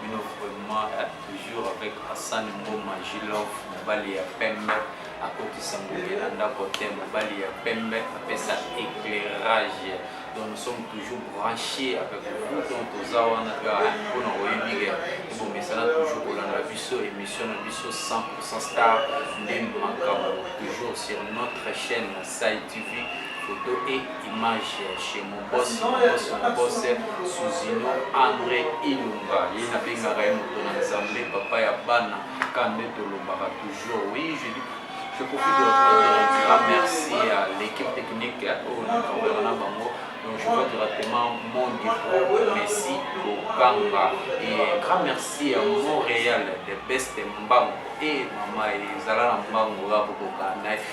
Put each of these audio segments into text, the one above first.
bino vraiment eh, toujours avec Hassan Mboma Jilov mobali ya pembe akotisa ngombe na ndako te mobali ya pembe apesa éclairage donc nous sommes toujours branchés avec vous donc toza wana mpona koyebike ebongisana toujours kolanda biso émission na biso 100 star nde makambo toujours sur notre chaîne Sai TV photo et image chez mon boss, mon boss, mon boss Suzino Andre Ilunga ye nabengaka ye moto na Nzambe papa ya bana ka nde tolobaka toujours oui je dis je profite de dire ah, merci à l'équipe technique oyo nakoyaka na bango donc je vois directement mon dépôt Messi Bokanga et un grand merci à Montréal de Best Mbango et mama ezala na mbango ya bokoka na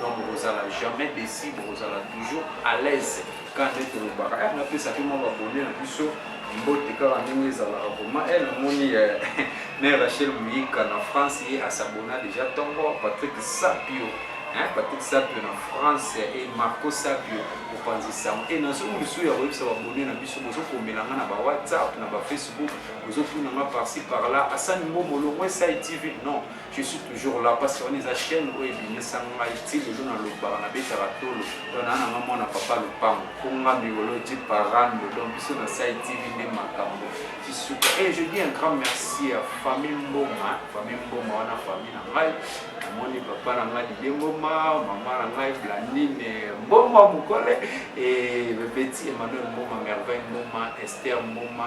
donc bokozala jamais desi bokozala toujours à l'aise quand nde tolobaka eh, napesa mpe mwa babone na biso mbote kaka ndenge ezalaka vrema e eh, namoni eh, me rachel moyika na france ye asabona déjà ntongo patrick sapio hein, Patrick Sapio na France et Marco Sapio opanzi sango et nazo misu ya koyebisa babone na biso bozokomela nga na ba whatsapp na ba facebook bozotuna nga parci par là asani ngo molongo esai tv non je suis toujours là mpasi wana eza chaîne oyo ebimisa ngai ti lelo nalobaka nabetaka tolo to naa nanga mwana papa lopango mpo nga miolo di parando donc biso na sai tv nde makambo tisuka e je dis un grand merci ya famille mboma famille mboma wana famille na ngai namoni papa na ngai didie mboma mama na ngai blandine mboma mokole e bebeti emmanuel mboma merveille mboma esther mboma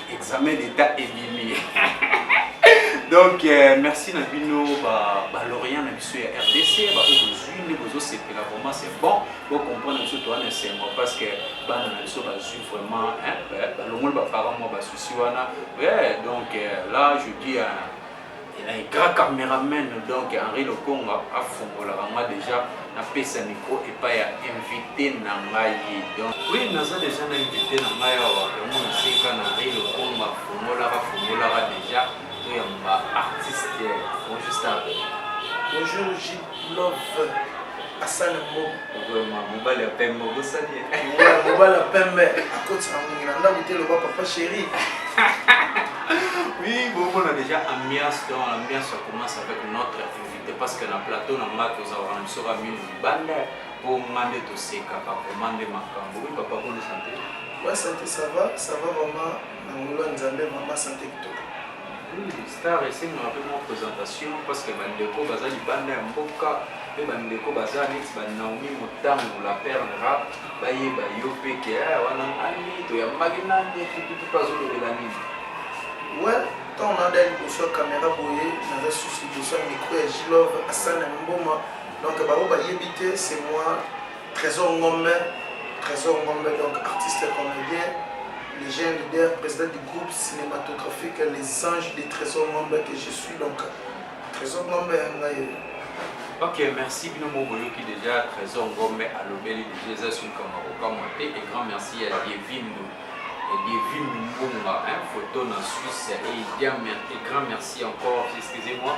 examen d'etat ebimi donc euh, merci na bino balorient na biso ya rdc baoyo bozwi nde bozosepela vraiment c'est bon bocomprendre biso toa na esengo parce que bana na biso bazwi vraiment balongoli baparent mwa basusi wana donc euh, là je dis Elai grand cameraman donc Henri Lokonga afungolaka nga deja napesa micro epai ya invité na ngai donc oui naza deja na invité na ngai awa yango naseka na Henri Lokonga afungolaka afungolaka deja toyamba artiste bonjour star bonjour JP love asala ngo vraiment mobali ya pembe obosani ye mobali ya pembe akotisa ngongi na ndako te loba papa chéri oui bomona déjà ambiance donc l'ambiance ça commence avec notre invité parce que na plateau na nga tozalaka na biso bamino libanda mpo nga nde tosekaka vraiment nde makambo oui papa boni sante wa sante ça va ça va vraiment na ngolo ya nzambe mama sante kitoko Star esengaka pe mwa presentation parce que ba ndeko baza libanda ya mboka pe ba ndeko baza neti ba Naomi Motambu la perle rap bayeba yo pe ke eh, wana nani toyambaki nani tututu pe azolobela nini well ntango nada liboso ya kamera boye naza susu liboso ya mikro ya gilove asana mboma donc bango bayebi te c'est moi Tresor Ngombe, Tresor Ngombe donc artiste comédien, légende, leader, président du groupe cinématographique Les Anges de Tresor Ngombe que je suis donc Tresor Ngombe ngai. Ok, merci bino mo boyoki déjà Tresor Ngombe alobeli déjà eza sur kama kokamwa te et grand merci à Yevindo et Yevindo Mbunga hein, photo na Suisse et, et grand merci encore, excusez-moi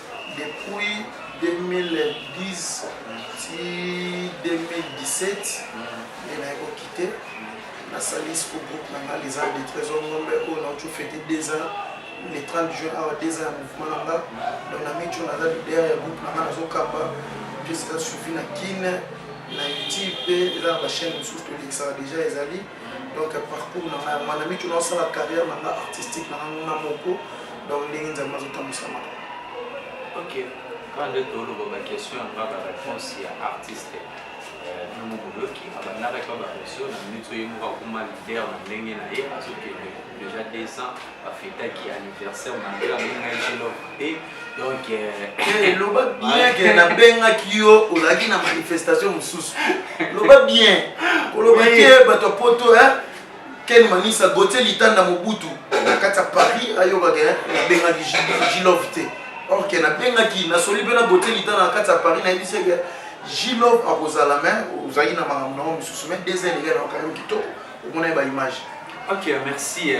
Depuis 2010 ti 2017 nde naye ko quitter nasali siko groupe na nga les ans de trésor ngombe oyo nauti ofete deux ans le 30 juin awa deux ans ya mouvement na nga donc na mico naza leader ya groupe na nga nazokamba mpe eza suivi na kine na youtube mpe eza na bachaine mosusu tolekisaka déjà ezali donc parcours na ngai mwana miki naosala carrière na ngai artistique na ngai nga moko donc ndenge nzambe azotambwisa maka ok kaka nde toloba baquestion yanga bareponse ya artiste nongo boyoki abandakaki ba bareseau na minute oyo ye moko akoma leader na ndenge na ye azokende déjà 200 bafetaki anniversaire na ngai yango ngai jelo te donc eh, loba bien ke nabengaki yo ozalaki na manifestation mosusu loba bien koloba te bato ya poto ken manisa gotie litanda mobutu na kati ya paris ayokaka nabengaki jilov te or ke nabengaki nasoli mpe na gotie litanda na kati ya paris nayebisi eke jilov akozala me ozalaki na makambo na yango mosusu me deuxième eleka na yo kitoko omona ye ba image ok merci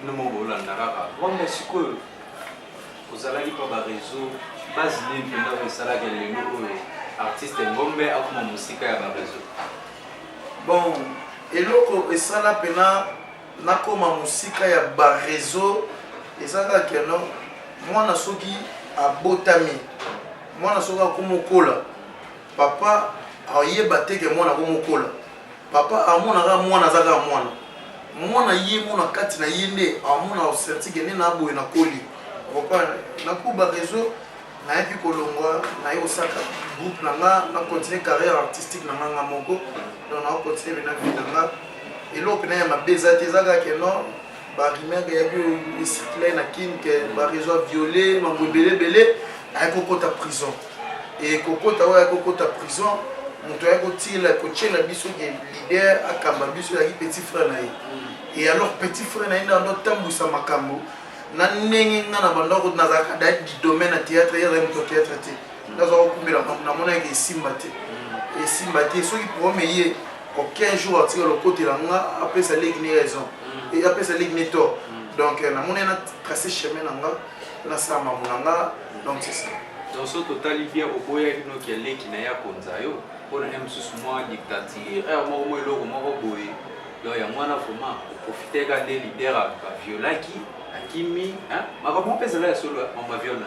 bino moko bolanda kaka wanga sikoyo ozalaki mpa ba réseau base nini mpenza oyo esalaka lelo oyo artiste ngombe akoma mosika ya ba réseau bon eloko esala mpena nakoma mosika ya ba réseau eza kaka keno mwana soki abotami mwana soki akomokola papa ayeba te ke mwana akomokola Papa amona kaka mwana aza kaka mwana mwana ye moko na kati na ye nde amona osensi ke nde na boye na koli okompana na kuba reseau nayebi kolongwa naye kosaka groupe na nga na continue carrière artistique na nga nga moko donc na continue na vie na nga eloko na ya mabe eza te eza kaka ke non ba rumeur eyaki oyo ecircule na kin ke barezo aviole mambo ebele ebele ayaki kokota prison e kokota oyo ayaki kokota prison moto ayaki kotila kotyela biso ke lider akamba biso eyaki petit frère na ye e alors petit frère na ye nde ando atambwisa makambo na ndenge nga na bandako nazalaka da domaine ya théâtre ye azali moto ya théâtre te nazwa kokumela makambo namonaki esimba te esimba te soki problème eye aucun jour atika lokotela nga apesa leki ne raison mm. et apesa leki ne tort mm. donc euh, namoni na tracer chemin na nga nasala mamu na nga donc c'est ça donc so totali bien oboyaki noki ya leki na ye akonza yo mpo na ye mosusu mwa dictature heure moko mwa eloko moko boye donc yango wana vraiment oprofiteka nde leader aviolaki akimi makambo mpe ezala ya solo mama viol na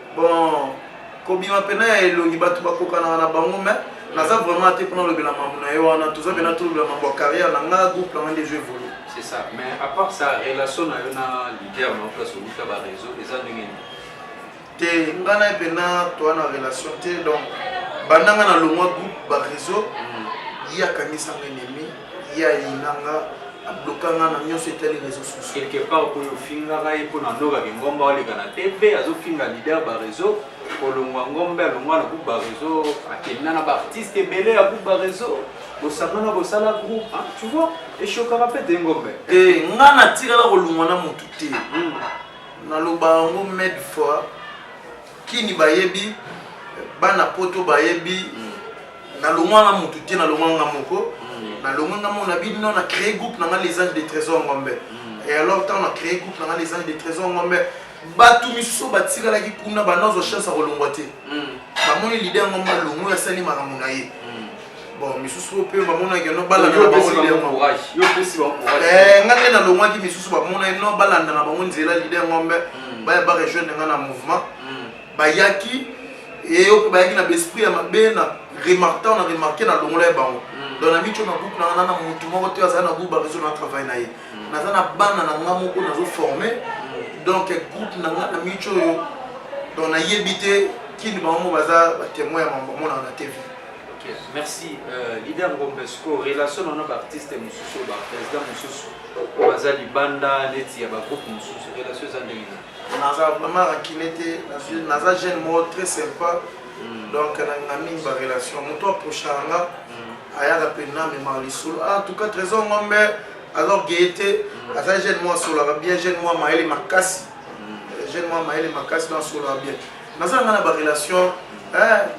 Bon, kobima pena ya elongi batu bakokanaka na bango mais naza vraiment ate pona lobela mambo na ye wana toza pena tolobela mambo ya carrière na nga groupe na nga nde ezo evolue C'est ça. Mais à part ça, relation na yo na leader na place au Luka ba réseau, les amis nini? te nga na ye pena toa na relation te donc banda nga na longwa groupe ba réseau ye akangisanga ennemi Ye ayina nga, a bloka nga na nionso etali reseaux sociaux. Quelque part okomi ofingaka ye pona Nora Lingomba oleka na TV, azo finga leader ba reseaux, kolongwa Ngombe alongwa na groupe ba reseaux, akenda na ba artistes ebele ya groupe ba reseaux, bosangana bosala groupe hein, tu vois, e choquaka pe te Ngombe. Te, nga natikala kolongwa na mutu te, nalobaka yango mille fois. Kini bayebi bana poto bayebi mm. na longwa nga mutu te na longwa nga moko mm. na longwa nga mona bino na créer groupe na nga les anges de trésor ngombe mm. et alors tant na créer groupe na nga les anges de trésor ngombe bato misusu batikalaki kuna banazwa chance ya kolongwa te bamoni lide yango malongo asali makambo na ye bon misusu oyo mpe bamonaki no balanda na bango eh, nga nde nalongwaki misusu bamonaki no balanda na bango nzela lide yango mbe hmm. baya barejoindre nga na mouvement hmm. bayaki eyoki bayaki na baesprit ya mabe na remarquant na remarqué na longola ya bango hmm. donc na mityo na groupe na nga na motu moko te azali na groupe bareseau na travail na ye naza na bana na nga moko nazoforme donc groupe na nga na mityo oyo donc nayebi te kini bango baza batemoin ya mambo amonaka na tv Ok, merci. Euh, leader Ngombe, siko relation na ba artistes mususu, ba président mususu, baza libanda neti ya ba groupe mususu, relation eza ndenge nini? Naza vraiment rancune te, naza jeune moko très sympa. Mm. Donc na mingi ba relation, moto approcha nga mm. ayaka pe na me ma lisolo. Ah, en tout cas trésor Ngombe alors gaieté, mm. aza jeune moi solaka bien, jeune moi maele makasi. Mm. Jeune moi maele makasi dans solaka bien. Naza nga na ba relation, hein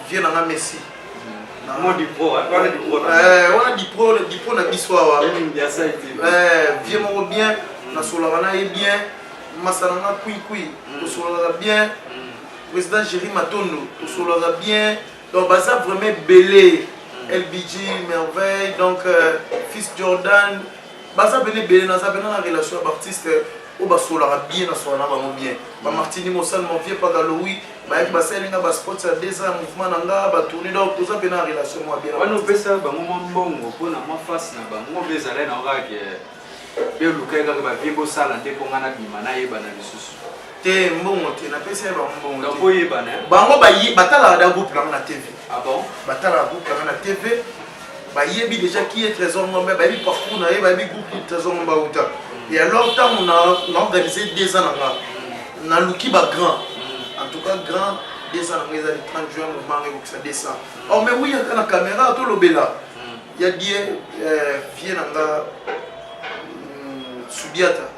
vieux na nga messi wana dipro na biso awa vieux moko bien nasolaka na ye bien masa na nga kuikui tosolaka bien président géri matondo tosolaka bien donc baza vraiment ebele lbg merveille donc euh, fils jordan baza bene ebele naza bena na relation ya baartiste oyo basolaka bien na sola na bango bien ba martini mosali mon vieux pagalowi bayaki basaleli nga ba spots ya deux ans ya mouvement na nga ba tourne donc toza mpe na relation mwa bien wana opesa bango mwa mbongo mpo na mwa face na bango mpe ezalai na kaka ke biolukai kaka bavie bosala nde mpo nga nabima nayebana lisusu te mbongo te napesi ye bango mbongo oyebana bango batalaka da groupe nango na tv ah batalaka groupe nango na tv bayebi deja qui est trésor ngombe bayebi parcours na ye bayebi groupe qui trésor ngombe auta et alors ntango na organise deux ans na nga naluki ba grand en tout cas grand deux ans na nga ezali 30 juin momanga ekokisa deux cent or mais oui yaka na caméra tolobela ya die euh, vie na nga mm, sudiata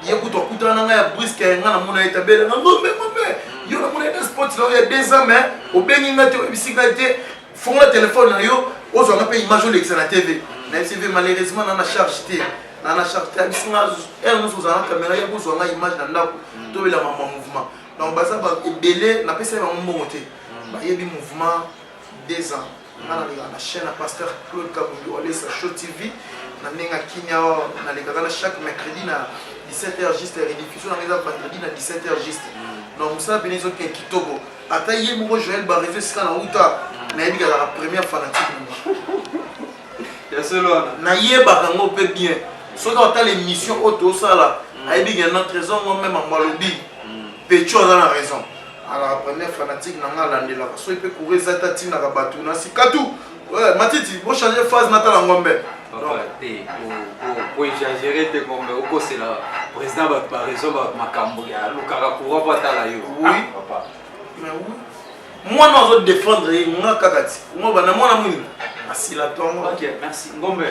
ye kutu akutana na ngai ya briske ya ngai namona ye tabele na ngombe ngombe yo namona ye na sport na yo ya deux ans mais obengi ngai te oyebisi ngai te fongola telefone na yo ozwa nga mpe image olekisa na tv na tv malheureusement na na charge te na na charge te abisi nga heure nyonso ozala na kamera ye kozwa nga image na ndako mm. tobelama ma mouvement donc baza ebele napesa ye bango mbongo te mm. bayebi mouvement deux ans nga naleka na chaîne ya pasteur claude kabundu olesa show tv na ndenge ya kimia nalekaka na chaque mercredi na 17 heures juste rediffusion nanga eza vendredi na 17 heures juste na mosala pene ezokende kitoko ata ye moko joel barezo esika na uta nayebi kazaka première fanatique nayebaka yango mpe bien soki otala émission oyo tosala ayebi ke na trésor ngo meme yango alobi pecho aza na raison Alaka premier fanatique na nga alandelaka soki pe courrier eza te atindaka bato na sikatu ouais, matiti bo change phase natala ngombe oexagere te ngombe okosela président bato ba raison ba makambo ya lukaka courant po atala yo oui papa mais oui mwana ozo défendre ye nga kaka ti ngo bana mwana muni asila tongo ok merci ngombe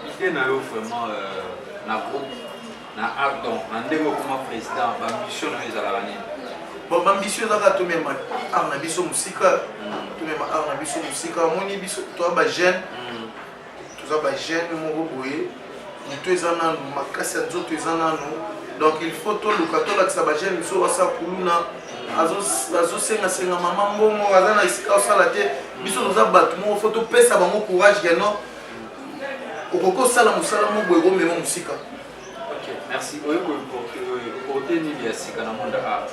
ide na yo vraiment euh, na groupe na ardon na ndenge okoma président bambition na yo ezalaka nini bon bambition ezalaka tomema ar na biso mosika mm. tomema ar na biso mosika amoni biso toa bajeune mm. toza bajeune moko boye moto eza nano makasi ya nzoto eza nano donc il faut toluka tolakisa bajeune biso asa kuluna azosengasenga mama mbongo aza na esika osala te biso toza bato moko fo topesa bango courage ya non okoki osala mosala moko boye komema mosika merci oyo koporte nini ya sika na monde art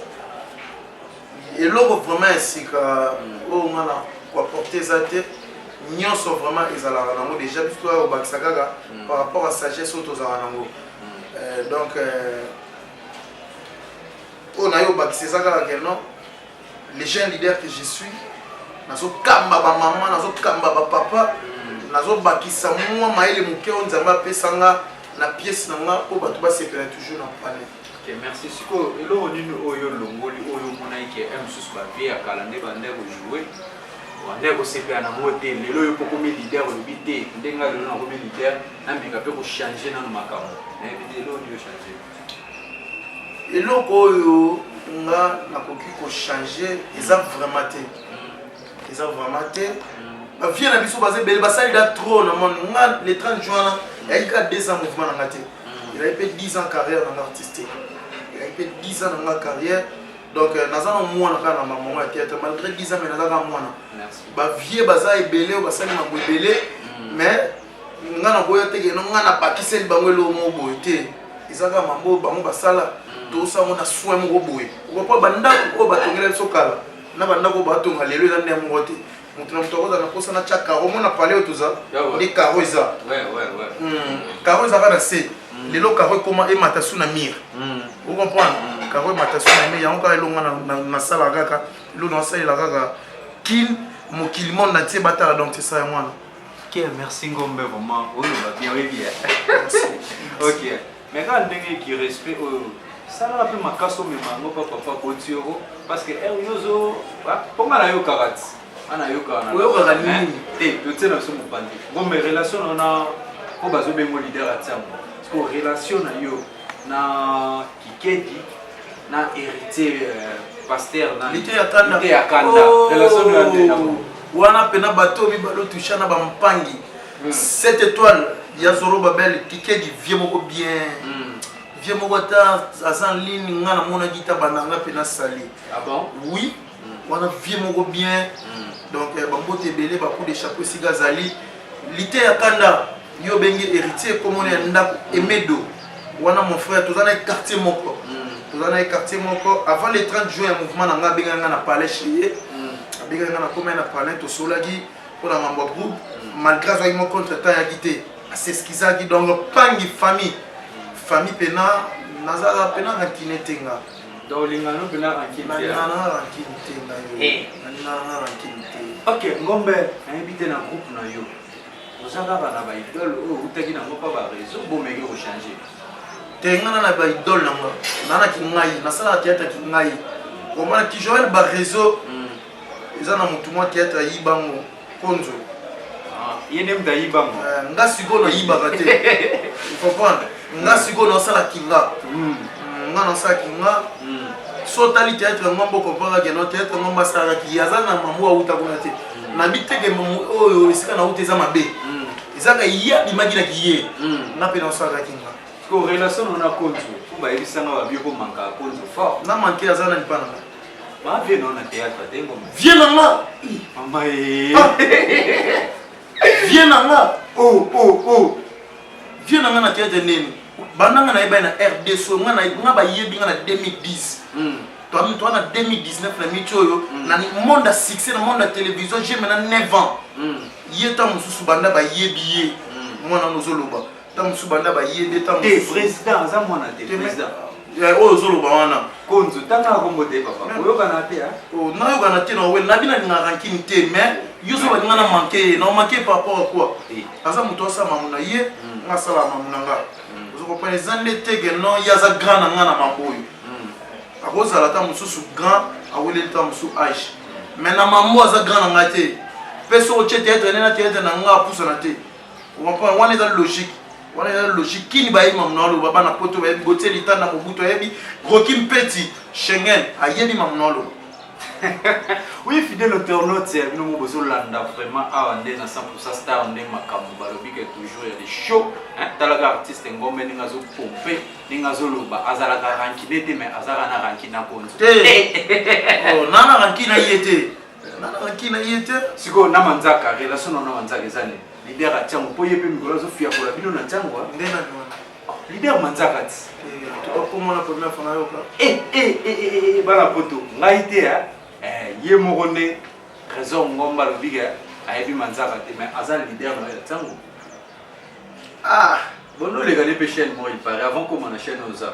eloko vraiment ya sika hmm. oyo nga na koaporte eza te nyonso vraiment ezalaka nango déjà biso oyo obakisa kaka hmm. par rapport à sagesse oyo tozalaka nango hmm. euh, donc euh, oyo nayo obakisa eza kaka ke non le jeune leader que je suis nazokamba bamama nazokamba bapapa nazobakisa mwa mayele moke oyo nzambe apesa nga na pièce na nga mpo bato basepela toujours na palais Okay, merci sikoyo eloko nini oyo olongoli oyo omonaki ke eh, mosusu bavie ya kala nde bande kojoue bande kosepela na ngo te lelo oyo mpo komi leader olobi te ndenge lelo nakomi leader nameka mpe kochange nano makambo nayebi te eloko nini ochange eloko oyo nga nakoki kochange eza vraiment te eza vraiment te bavie na biso baza ebele basalida trop na mone nga le 30 juin wana eyaki kaka 2 ans mouvement na nga te elaki mpe 10 ans carrière na nga artistique elaki mpe 10 ans na nga carrière donc euh, naza na mwana kaka na mamango ya théâtre malgré 10 ans mais naza kaka mwana bavie baza ebele oyo basali mambo ebele mm. mais nga naboya te keno nga nabakiseli bango eloko moko boye te eza kaka mambo bango basala mm. tosango na soin moko boye okopo bandako oyo batongela biso kala na bandako oyo batonga lelo eza nde moko te moto na moto akozala na mposa na tya karo mona pale oyo toza nde karo eza karo ezaka na se mm. lelo karo ekoma emata su na mire mm. ocomprendre karo emata su na mire yango kaka elonga nasala kaka elo nasalela kaka kin mokili monde na tie batala donc tesa yango wana Kier, merci Ngombe, vraiment. Oui, va bien, oui, bien. ok. Mais quand on qui respect, oh, ça va plus ma casse, mais ma non, papa, papa, Botioro, parce que, eh, Yozo, pour moi, la yokarat. Ana yokana. Oyokaka nini? Te, to tsena biso mopandi. Ngombe, relation na na, oyo bazobengo leader ya ntiambo. Parce que relation na yo, na Kikedi na héritier euh, pasteur na liteya kanda liteya kanda oh. relation na ndena wana pena bato mibalo toucha na ba mpangi hmm. cette étoile ya zoro babel kikedi vie moko bien hmm. vie moko ata aza en ligne nga namonaki ta bananga mpe nasali ah bon? oui wana vie moko bien donc eh, bambote ebele bacoup de chapeau esika azali lite ya kanda yo obengi héritier komona ya ndako emedo wana mon frère toza na ye quartier moko toza na ye quartier moko avant le 30 juin ya mouvement na ngai abengaki ngai na palais chez ye abengaki ngai na komai na palais tosolaki mpo na mambo ya groupe malgré azwaki mo contre temps yaki te aseskizaki donc pangi famille famille mpena naza mpena na kine te nga Donc olingana no pena rancune te. Nalingana na rancune te na yo. Eh. Nalingana na rancune te. Ok, ngombe nayebi te na groupe na yo. Oza kaka na ba idole oyo outaki nango mpa ba réseau bomeki kochange. Te nga na na ba idole na nga. Na na kingai, nasalaka théâtre kingai. Komana ki Joël ba réseau. Eza na motu mwa théâtre ayibango. konzo ah, ye nde moto ayiba ngo eh, nga sikoyo nayibaka te comprendre nga hmm. sikoyo nasala kinga hmm. Hmm, nga nasala kinga so otali théâtre yango mbo comprendre ke no théâtre yango mbo asalaka ki aza na mambo awuta kuna te nabi te ke oyo esika nawuta eza mabe ezaka ye abimaki na kiye nga mpe nasalaka kinga ko relation na konzo mpo bayebisanga babio komanka konzo fort na manke aza na lipa na ngai Ba vie na na théâtre te ngoma. Vie na nga. Mama eh. Ah. Vie na nga. Oh oh oh. Vie na nga na théâtre nini? Banda nga na yeba na RD so nga na nga ba yebi nga na 2010. Mm. Toi même toi na 2019 na miti oyo mm. na monde à succès na monde à télévision j'ai maintenant 9 ans. Mm. Yeta mususu banda ba yebi ye. Mm. Mwana nozoloba. ntango mosusu banda baye nde ntango te président aza mwana te président eh, oyo ozoloba wana konzo tanga akombo te papa oyokana te ah. oh, nayokana te nawe nabi nalinga rankini te mais yo so balinga na manke ye na manke par rapport à quoi eh. aza moto asala mamu na ye hmm. nga asala mamu na nga hmm. ozokompana eza nde tege non ye aza grand na nga na mambo oyo hmm. akozala ntango mosusu grand aweleli ntango mosusu age mais na mambo aza grand na nga te mpe soki otye teatre nde na teatre na nga apusana te okomprendre wana eza logique wana eza logique kini bayebi mamu na oloba bana poto bayebi botie litanda mobutu ayebi roki mpeti schengen ayebi mamu na oloba oui fidèle internaute ya bino mo bozolanda vraiment awa nde na 100 star nde makambo balobi ke toujours ya lishow talaka artiste ngombe ndenge azopompe ndenge azoloba azalaka rankine te mais azalaka na rankine na konzi te nana rankine ye te nalaki na ye te sikoyo na manzaka relation na na manzaka eza nini lider atia ngo mpo ye mpe mikolo azofiakola bino na ntango nde nani wana lider manzaka ti okomona problème fana yoka bana poto ngai te ye moko nde trésor ngomba alobi ke ayebi manzaka te mais aza lider na yo ya ntango ah bono oleka nde mpe chaîne moko ipare avant koma na chaîne oyo oza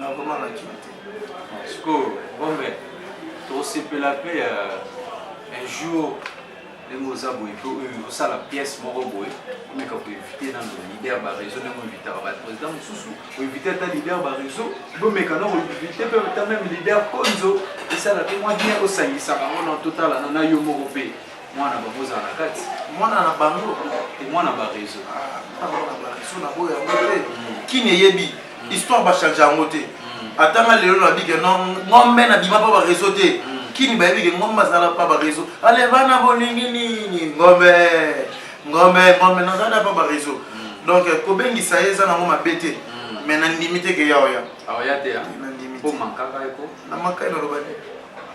na vraiment na kin te sikoyo bombe tokosepela mpe euh, un jour ndenge oza boye mpe oyo osala pièce moko boye omeka koinvite nano leader bareseau ndenge oinvitaka baprésident mosusu oinvite ata leader bareseau bomeka na koinvite mpe ata meme leader konzo esala mpe mwa bien osangisa bango na totalana na yo moko mpe Mwana na bango ozala na kati. Mwana na bango. Te mwana ba reseau. Ah, mwana ba reseau na boya yango te. Mm. Kini eyebi mm. histoire ba change yango te. Mm. Ata nga lelo na bige non ngombe na bima pa ba reseau te. Kini bayebi ke ngombe azala pa ba reseau. Ale bana bolingi nini ngombe. Ngombe ngombe nazala pa ba reseau. Donc eh, kobengisa ye eza nango mabe te. Mais na ndimi te ke ya oya. Aoya te ya. Na ndimi. Po mankaka eko. Na mankaka naloba te.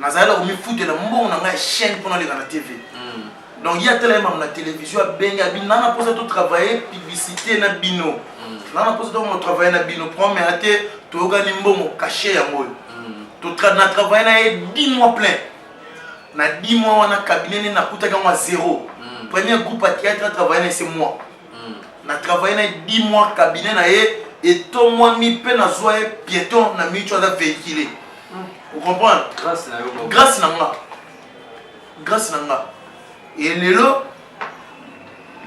nazalaki na komifutela mbongo na ngai ya chaîne mpo naleka na tv donc ye atala ye mamu na télévision abenge abi na na mposa totravaille publicité na bino mm. na na mposa tokoma travaille na bino promea te toyokani mbongo cache yango oyo mm. na travaille na ye 10 mois plein na 10 mois wana cabinet nde nakutaki yango ya zéro mm. premier groupe ya théâtre atravaille na ese mois na travaille na ye 10 mois cabinet na ye etomwami mpe nazwa ye pieton na micho aza véhicule ocomprendre grâce na yo grâce na nga grâce na nga e lelo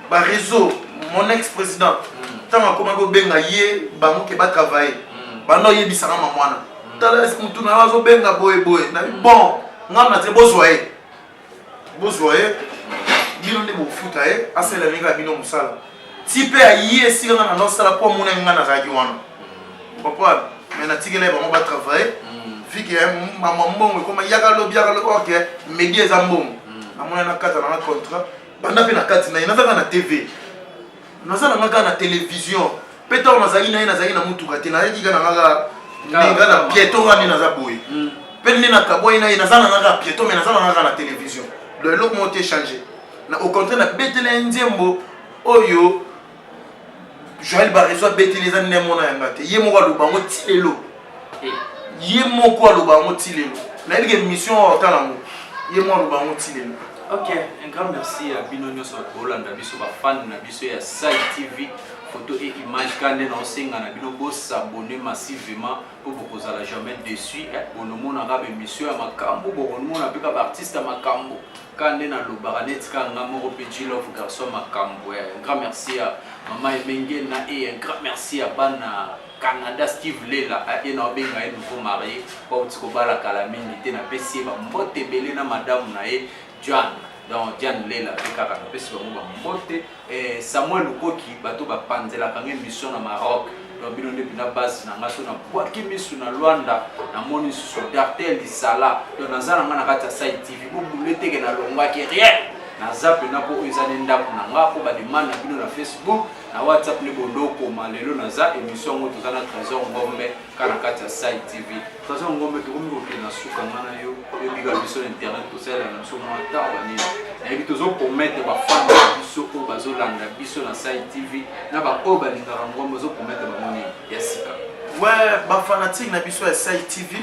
bareseau mon ex président ntango akomaki kobenga ye bango ke batravaille banda oyebisaka mamwana tala motu na yo azobenga boye boye na bon ngai na te bozwa ye bozwa ye bino nde bofuta ye asala ndenge ya bino mosala ti mpe aye esika nga nanga osala mpo amonaki nga nazalaki wana comprendre mais natikela ye bango batravaille mm. vike ya mama mbongo ekoma yaka lobi yaka lobi ok medi eza mbongo mm. namona nakata nanga contrat banda mpe na kati na ye nazalaka na tv naza nanga kaka na television mpe ntango nazalaki na ye nazalaki na motuka te nazalaki kaka nanga kaka nga na pieto nga nde naza boye mpe nde nakabwai na ye naza nanga kaka pieto mai naza nanga kaka na television donc eloko moko te change na au contraire nabetela ye nzembo oyo joel bareso abeteli eza nde mona yanga te ye moko aloba yango ti lelo ye moko aloba yango ti lelo nayebi ke mission oyo otala yango ye moko aloba yango ti lelo ok un grand merci ya bino nyonso bolanda biso bafane na biso ya sai tv foto e image ka nde naosenga na bino bosabone massivement mpo bokozala jamais dessus eh, bonomonaka bemission ya makambo bokomona mpe ka baartiste ya makambo ka nde nalobaka neti ka nga moko mpe jilove garçon makambo eh, un grand merci ya mama emenge na e un grand merci ya bana Canada Steve Lela a ena obenga ye nouveau marie bawuti kobala kala mingi te napesi ye ba mbote ebele na madamu na ye Juan donc Diane Lela pe kaka napesi bango ba mbote eh, Samuel Lukoki bato bapanzelaka nga emission na Maroc donc bino nde pina base na nga so na bwaki misu na Luanda na moni susu Dartel Lisala donc naza na nga na kati ya Sai TV bo boule teke na longwaki rien naza pena po oyo eza nde ndako na nga po ba demande na bino na Facebook na whatsapp nde bondo okoma lelo naza émission yango toza na trésor ngombe ka na kati ya sai tv trésor ngombe tokomi kokende na suka nga na yo oyebika biso na internet tosalela na biso mwa ntango nini nayebi tozopromettre bafanda na biso oyo bazolanda biso na sai tv na baoyo balingaka ngombe ozopromettre bango nini ya sika we bafanatique na biso ya sai tv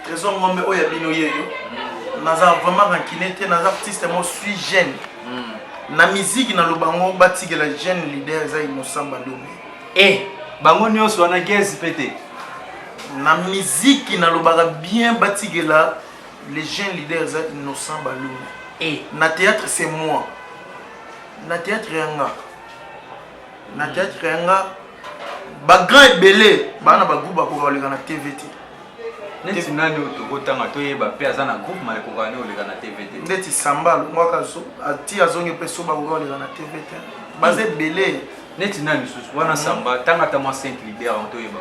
Trésor Ngombe oyo ya bino yeyo mm. naza vraiment rancune te naza artiste mo suis jeune mm. na miziki na lobango batikela jeune leader eza innocent balombe e eh, bango nyonso wana gezi mpe te na miziki nalobaka bien batikela le jeune leader eza innocent balombe e eh. na théâtre c'est moi na théâtre yanga na théâtre yanga ba grand ebele bana ba groupe bakoka koleka na tv te neti nani oyo tokotanga toyeba mpe aza na groupe mai ekoka nani oleka na tv te ndeti samba alongwaka ti azongi mpe so bakoka koleka na tv te baza ebele neti nani lisusu wana samba tanga ata mwa 5 lider yango toyeba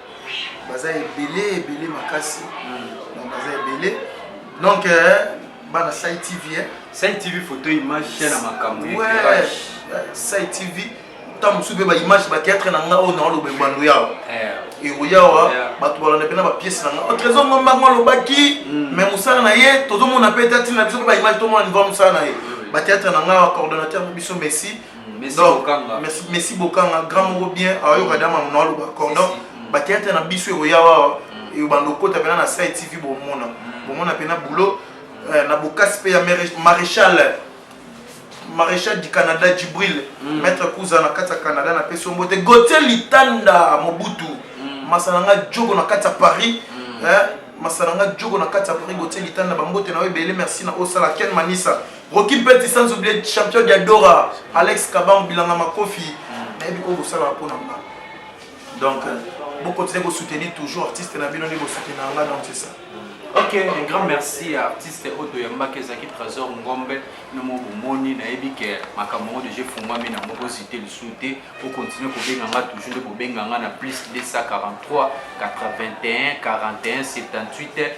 baza ebele ebele makasi donc baza ebele donc euh, bana sai tv eh? sai tv photo image chaîne ya makambo ouais, sai tv ntango mosusu mpe baimage bateatre na nga oyo naoloba ebando yawa ekoyawa bato balanda mpe na bapiese na nga oh, trésor ngombango alobaki mm. mais mosala na ye tozomona mpe ete atina biso mpe baimage tomona niveau ya mosala na ye bateatre na nga coordonnateur na biso messi messi bokanga grand moko bien ayoka dama mona aloba accord donc bateatre na biso ekoya wawa ebanda okota mpena na sai tv bomona mm. bomona mpena boulot eh, na bokasi mpe ya maréchal maréchal du canada djibril mm. maître kuza na kati ya canada na pesi ombo te gautier litanda mobutu mm. masana nga jogo na kati ya paris eh, masana nga jogo na kati ya paris gautier litanda bambote na yo ebele merci na osala ken manisa Rocky Mpeti sans oublier champion Diadora, Alex Kabango bilanga makofi. Nayebi ko bosala mpo na nga. Donc vous euh, continuez de soutenir toujours artiste na bino nde ko soutenir nga donc c'est ça. Ok, un grand merci à artiste Odo Yambaki Zaki Trésor Ngombe, Nomo Bomoni, Naebi que Makamoro de Jeu Fumami na Moko Cité le Souté, pour continuer pour Benganga, toujours pour Benganga na plus 243 81 41 78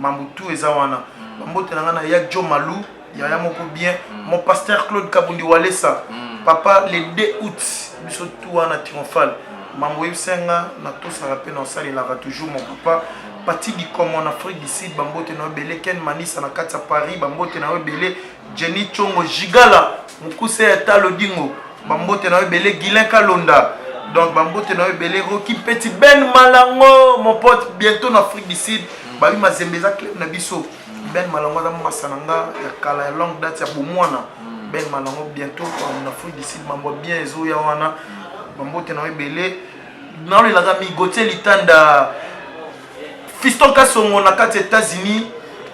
mambo tout eza wana mm. bambote na ngai na ya jo malou yaya moko bien mm. mon pasteur claude kabundi walesa mm. papa le 2 août biso tout wana triomphale mm. mambo oyebisa nga natosaka mpe naosalelaka toujours mon papa pati dikomo na afrique du sud bambote na yo ebele ken manisa na kati ya paris bambote na yo ebele Jenny Tshongo Gigala mukuse ya talo dingo bambote na yo ebele Guilain Kalonda donc bambote na yo ebele Rocky Petit Ben Malango mon pote bientôt na Afrique du Sud babi mazembe eza club na biso Ben Malango aza masa na nga ya kala ya longue date ya bomwana Ben Malango bientôt na Afrique du Sud mambo bien ezoya wana bambote na yo ebele nalelaka migotie litanda Fiston Kasongo na kati États-Unis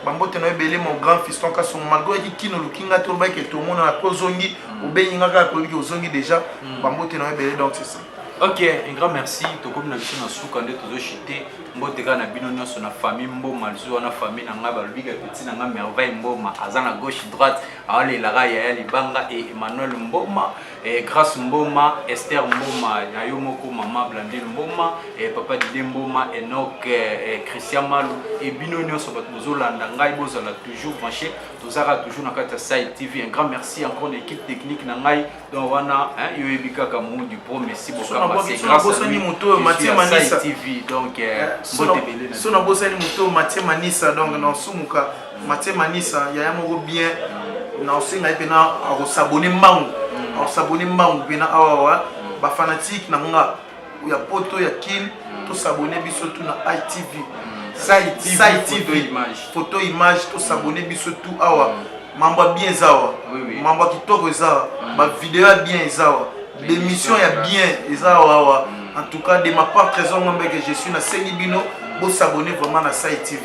bambote na yo ebele mon grand fiston kasongo malgre oyaki kino oluki ngai te olobaki ete omonana mpe ozongi mm. obengi ngai kaka koyebi ke ozongi déjà mm. bambote na yo ebele donc c'est ça ok un grand merci tokomi na biso na suka nde tozochite mbote kaka na bino nyonso na famille mboma lisu wana famille na ngai balobi ka petit na ngai merveille mboma aza na gauche droite aolelaka yaya libanga e emmanuel mboma Eh, Grace Mboma, Esther Mboma, na yo moko mama Blandine Mboma, eh, papa Dide Mboma, Enoch, eh, eh, Christian Malu, et bino nyonso bato bozolanda ngai bozala toujours branché, tozalaka toujours na kati ya Sai TV. Un grand merci encore na équipe technique na ngai, donc wana hein, yo yebi kaka Mou du Pro Messi Bokamba, c'est grâce à lui que je suis à Sai TV, donc eh, mbote belé na sona bosani moto Mathieu Manisa donc na osumuka Mathieu Manisa yaya moko bien na osenga ye pena akosabone mbangu akosabone mbangu pena awawa bafanatike na nga ya poto ya kin tosabone biso tu na itv sai tv photo image tosabone biso tu awa mambo ya bien eza awa mambo ya kitoko eza awa bavideo ya bien eza awa bemission ya bien eza awa awa en tout cas de ma part trésor ngombe que je suis nasengi bino bosabone vraiment na sai tv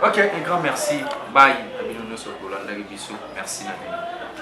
Ok, un grand merci. Bye. Na bino nyoso bolandaki biso. Merci na bino.